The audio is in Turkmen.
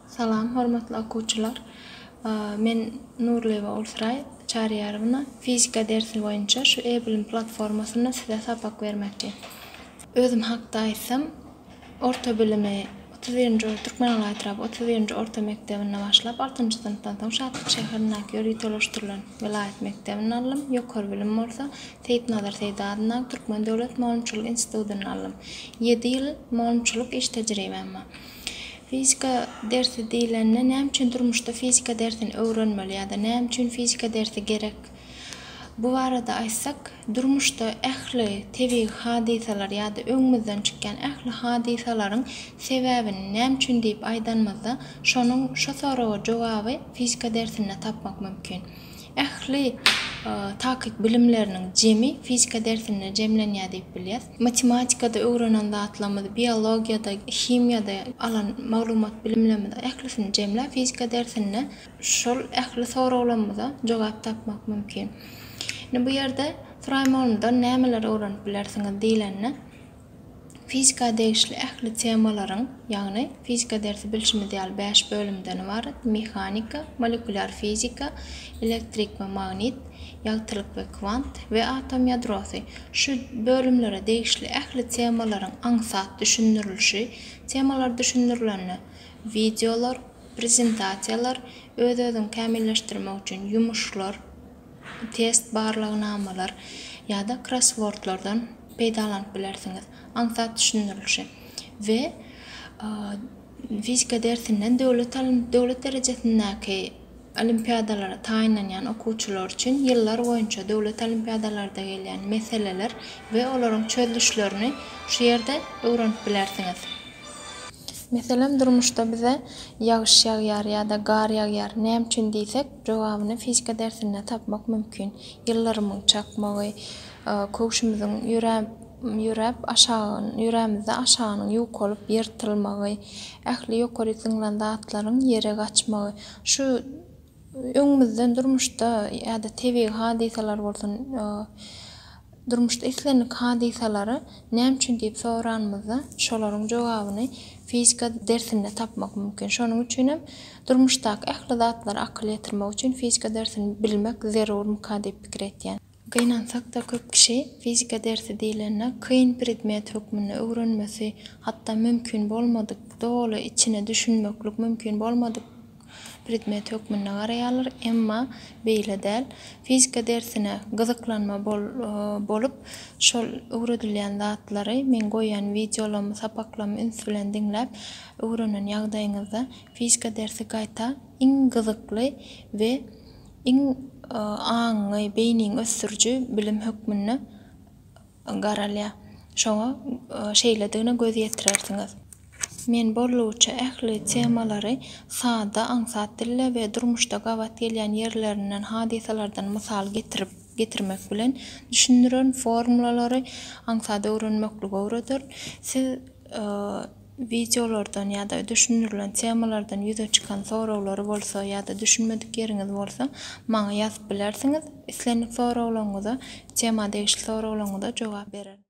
Salam hormatly okuwçylar! Men Nurlyýewa Ulsraý Çaryýarowna. Fizika dersi boýunça şu e-bilim platformasynda size sapak bermekçi. Özüm hakda aýtsam, orta bilimi otuz birinji Türkmenala etraby otuz birinji orta mekdebinde başlap, altynjy synpdan soň Şatlyk şäherindäki ýörite ýolaşdyrylan welaýat mekdebinde aldym. Ýokary bilim bolsa Seýitnazar Seýdi adyndaky Türkmen döwlet mugallymçylyk institutynda aldym. Ýedi ýyl mugallymçylyk iş tejribäm bar. Fizika dersi diýlende näme üçin durmuşda fizika dersini öwrenmeli ýa-da näme üçin fizika dersi gerek? Bu barada aýtsak, durmuşda ähli tebigy hadysalar ýa-da öňümizden çykýan ähli hadysalaryň sebäbini näme üçin diýip aýdanymyzda, şonuň şo soraga jogaby fizika dersinde tapmak mümkin. Ähli takyk bilimleriniň jemi fizika dersinde jemlenýär diýip bilýäs. Matematikada öwrenen zatlarymyzy, biologiýada, himiýada alan maglumat bilimlerimizi ählisini jemläp fizika dersinde şol ähli soraglarymyza jogap tapmak mümkin. Indi bu ýerde Suraýmagulumdan nämeleri öwrenip bilersiňiz diýlende, Fizika degişli ähli temalaryň, ýagny fizika dersi bilşimiz ýaly bäş bölümden ybarat, mehanika, molekulýar fizika, elektrik we magnit, ýagtylyk we kwant we atom ýadrosy, şu bölümlere degişli ähli temalaryň aňsat düşündirilişi, temalar düşündirilende wideolar, prezentasiýalar, öz-özüňi kämilleşdirmek üçin ýumuşlar, test, barlagnamalar ýa-da krosswordlardan peýdalanyp bilersiňiz. Aňsat düşündirilişi we fizika dersinden döwlet döwlet derejesindäki olimpiadalara taýynlanýan okuwçylar üçin ýyllar boýunça döwlet olimpiadalarda gelýän meseleler we olaryň çözlüşlerini şu ýerde öwrenip bilersiňiz. Meselem, durmuşda bize ýagyş ýagýar ýa-da gar ýagýar näme üçin diýsek, Jogabyny fizika dersinde tapmak mümkin. Ýyllarymyň çakmagy, köwşümiziň ýöräp, ýöräp aşagyny, ýörämizde aşagynyň ýukalyp ýyrtylmagy, ähli ýokaryk zyňylan zatlaryň ýere gaçmagy, şu öňümizden durmuşda ýa-da tebigy hadysalar bolsun, Durmuşda islendik hadysalary näme üçin diýip soranymyzda, şolaryň jogabyny fizika dersinde tapmak mümkin. Şonuň üçin hem durmuşdaky ähli zatlara akyl ýetirmek üçin fizika dersini bilmek zerurmyka diýip pikir etýän. Gynansak-da köp kişi fizika dersi diýlende kyn predmet hökmünde öwrenmesi, hatda mümkin bolmadyk, doly içine düşünmeklik mümkin bolmadyk, predmet hökmünde garaýarlar, emma beýle däl. Fizika dersine gyzyklanma bolup, şol öwredilýän zatlary, meň goýan wideolarymy, sapaklarymy üns bilen diňläp, öwrenen ýagdaýyňyzda fizika dersi gaýta iň gyzykly we iň aňyňy, beýniňi ösdüriji bilim hökmünde garalýar. Şoňa şeýledigine göz ýetirersiňiz. Men boldugyça ähli temalary sada, aňsat dilde we durmuşda gabat gelýän ýerlerinden, hadysalardan mysal getirip, getirmek bilen düşündirerin, formulalary aňsat öwrenmeklige öwrederin. Siz wideolardan ýa-da düşündirilen temalardan ýüze çykan soraglary bolsa ýa-da düşünmedik ýeriňiz bolsa maňa ýazyp bilersiňiz. Islendik soraglaryňyza, tema degişli soraglaryňyza jogap bererin.